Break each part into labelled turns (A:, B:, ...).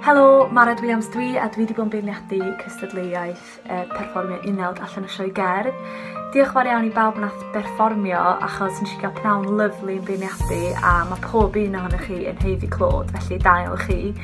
A: Helo, Mared Williams dwi a dwi wedi bod yn beirniadu cystadleuaeth uh, perfformio unawd allan y sioe gerdd. Diolch fawr iawn i bawb nath berfformio achos nes i gael pnawn lyflu yn beirniadu a mae pob un ohonych chi yn heiddi clod, felly da iawn chi.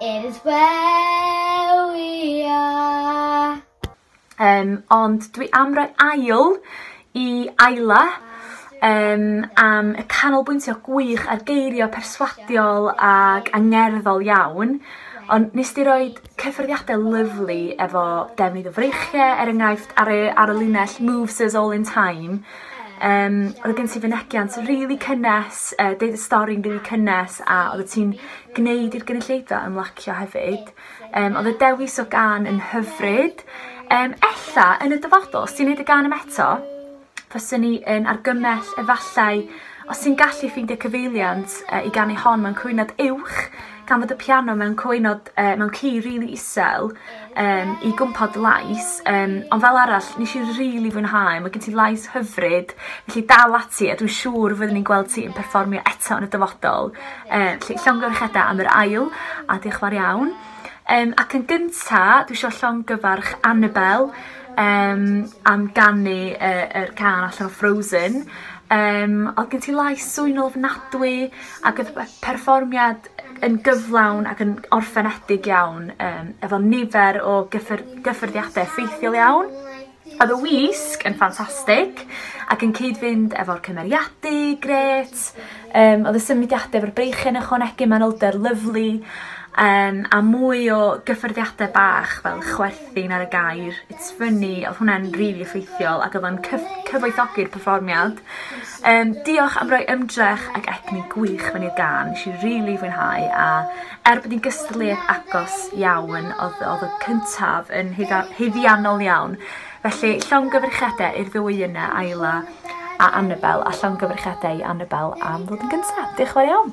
B: It is where we are. Um, ond dwi am roi ail i Ayla um, am y canolbwyntio gwych ar geirio perswadiol ac angerddol iawn. Ond nes di roi cyffyrddiadau lyflu efo defnydd o freichiau, er enghraifft ar y, ar y linell Moves Us All In Time, um, roedd gen ti fynegiant rili really cynnes, uh, deud y stori'n rili really cynnes, a oedd ti'n gwneud i'r gynulleidfa ymlacio hefyd. Um, oedd y dewis o gan yn hyfryd. Um, ella, yn y dyfodol, os ti'n gwneud y gan yma eto, fyswn ni yn argymell efallai os ti'n gallu ffeindio cyfeiliant uh, i gan ei hon mewn cwynod uwch, gan fod y piano mewn cwynod, uh, mewn ci rili really isel, yym i gwmpo dy lais yym ond fel arall nesh i rili fwynhau ma' gen ti lais hyfryd felly dal ati a dwi siŵr fyddwn ni'n gweld ti yn perfformio eto yn y dyfodol yy felly llongyfarchiada am yr ail a diolch fawr iawn. Yym ac yn gynta dwi isio llongyfarch Anabel yym am ganu yy yr cân allan o Frozen yym odd gen ti lais swy'n ofnadwy ag o'dd y perfformiad yn gyflawn ac yn orffenedig iawn um, efo nifer o gyffyr, gyffyrddiadau effeithiol iawn. Oedd y wisg yn ffantastig ac yn cyd-fynd efo'r cymeriadu, gret. Um, oedd y symudiadau efo'r breichen ychwanegu manylder lyflu um, a mwy o gyffyrddiadau bach fel chwerth thing ar y gair it's funny odd hwnna'n rili effeithiol ac odd o'n cyff- cyfoethogi'r perfformiad. Yym diolch am roi ymdrech ac egni gwych mewn i'r gân nesh i rili fwynhau a er bod 'i'n gystadleuaeth agos iawn odd odd y cyntaf yn hudda- haeddiannol iawn felly llongyfrchiade i'r ddwy yna Ayla a Anabel a llongyfrchiade i Anabel am ddod yn gynta. Dioch y' fawr iawn.